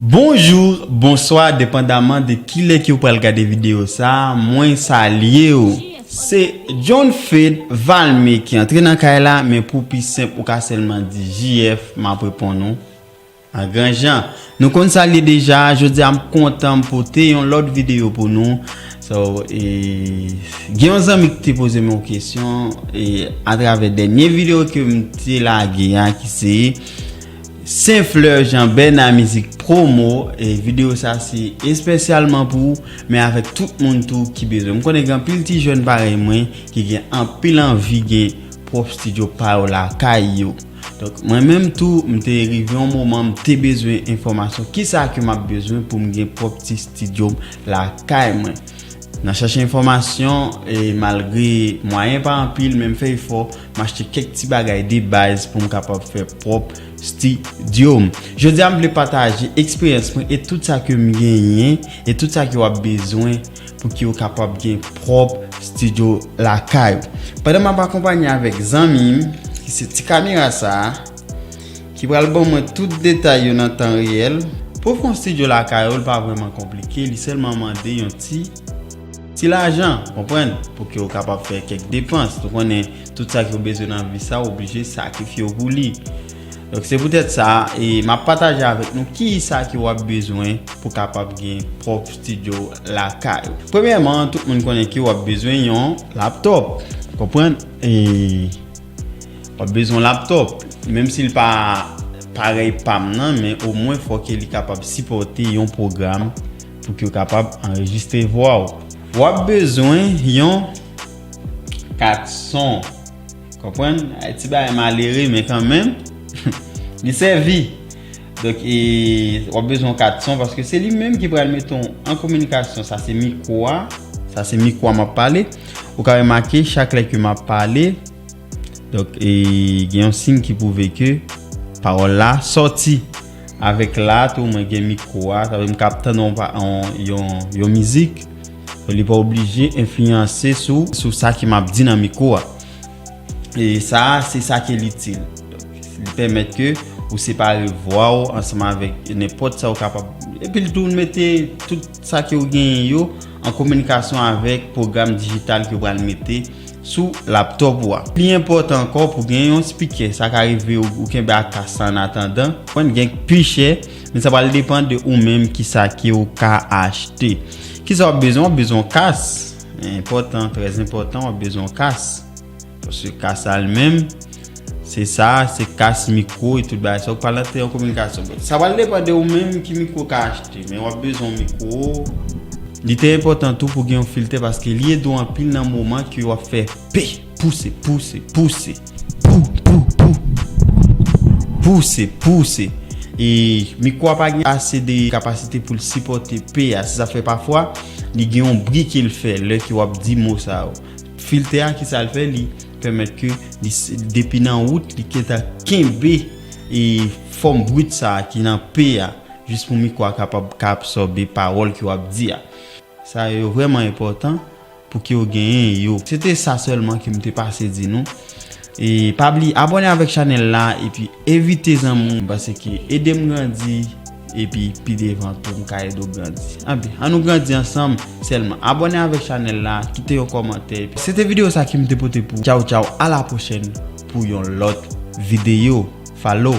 Bonjour, bonswa depandaman de kilè ke ou pral gade video sa mwen salye ou. Se John Fed Valme ki antre nan kay la men pou pi senp ou ka sèlman di JF map reponn ou an gran jan. Nou konn sa l ye deja, jodi a m kontan m pote yon lòt video pou nou. So e gen yon zanmi ki te poze m yon kesyon e atravè dènye video ke m te lage a ki se Saint Fleur Jean Bernard Mizik Promo e video sa se espesyalman pou ou men avèk tout moun tou ki bezwen. M konnen gen anpil ti jèn parèy mwen ki gen anpil anvi gen pwòp stidyo pa yo lakay yo. Donk mwen menm tou m te rive yon moman m te bezwen enfòmasyon kisa ke m ap bezwen pou m gen pwòp ti stidyo m lakay mwen. Nan chache enfòmasyon e malgre mwayen pa anpil men m fè efò M achte kèk ti bagay de baz pou m kapab fè pwòp stidyo m. Jodi a m vle pataje eksperyans mwen e tout sa ke m genyen e tout sa ke w ap bezwen pou ke w kapab gen pwòp stidyo lakay ou. Pandan m ap akonpanye avèk zanmi m ki se ti kamera sa a ki pral ban mwen tout detay yo nan tan reyèl. Pou w fè yon stidyo lakay ou li pa vrèman konplike, li sèlman mande yon ti. Ti lajan, konprann, pou ke ou kapab fè kèk depans. Nou konnen, tout sa ke ou bezwen nan vi sa, ou oblije sakrifye ou pou li. Donk, se poutèt sa, e m ap pataje avèk nou ki sa ke ou ap bezwen pou kapab gen pwòp studio lakay ou. Premyèman, tout moun konnen ke ou ap bezwen yon laptop, konprann, e ou ap bezwen yon laptop, menm si li pa parèy pa m nan, men omwen fò ke li kapab sipòte yon pwogram Pou ke yo kapab anrejistre vwa ou. W ap bezwen yon kat son. Konprann? Ay ti bagay malere men kan menm li sèvi. Donk e w ap bezwen yon kat son paske se li menm ki pral mete w an kominikasyon. Sa se mikwo a. Sa se mikwo a m ap pale. Ou ka remake chak lè ke m ap pale. Donk e gen yon sign ki pwouve ke pawòl la sòti. Avèk la tou mwen gen mikwo a, sa vle m kab tann yon mizik, li pa oblije enfliyanse sou sa ke m ap di nan mikwo a. E sa a, se sa ke l itil. Li pèmèt ke ou separe vwa ou ansanm avèk nenpòt sa ou kapab. Epi l tou mete tout. Sa ke ou genyen yo an kominikasyon avèk pwogram dijital ke ou pral mete sou laptop ou a. Pi enpòtan ankò pou gen yon spikè, sa ka rive ou kenbe ak kas la an atandan. Konprann gen k pi chè, men sa pral depan de ou menm kisa ke ou ka achte. Kisa wap bezwen, wap bezwen yon kas, enpòtan, trè enpòtan, wap bezwen yon kas. Paske ka sa li menm, se sa, se kas mikwo e tout bagay sa. Ou pral antre an kominikasyon. Bon, sa pral depan de ou menm ki mikwo ou ka achte. Men wap bezwen yon mikwo. Li te enpòtan tou pou gen yon filtè paske li ede ou anpil nan moman ke wap fè pe, pouse, pouse, pouse, pou, pou, pou, pouse, pouse. E mikwo a pa gen ase de kapasite pou l sipòte pe a. Se sa fè pafwa li gen yon bri ke l fè lè ke wap di mo sa yo. Filtè a ki sa l fè li pèmèt ke li depi nan wout li gentan kenbe e fòm brit sa ki nan p a jis pou mikwo a kapab ka absòbe pawòl ke w ap di a. Sa yo vrèman enpòtan pou ke w genyen yo. Se te sa sèlman ke m te pase di nou. E pa bliye abòne avèk chanèl la epi. Evite zanmi ou paseke edem grandi epi pi devan tou mka ede w grandi anpi an nou grandi ansanm sèlman abòne avèk chanèl la kite yon kòmantè epi se te video sa ki m te pote pou tchaw tchaw a la pwochèn pou yon lòt video fallow.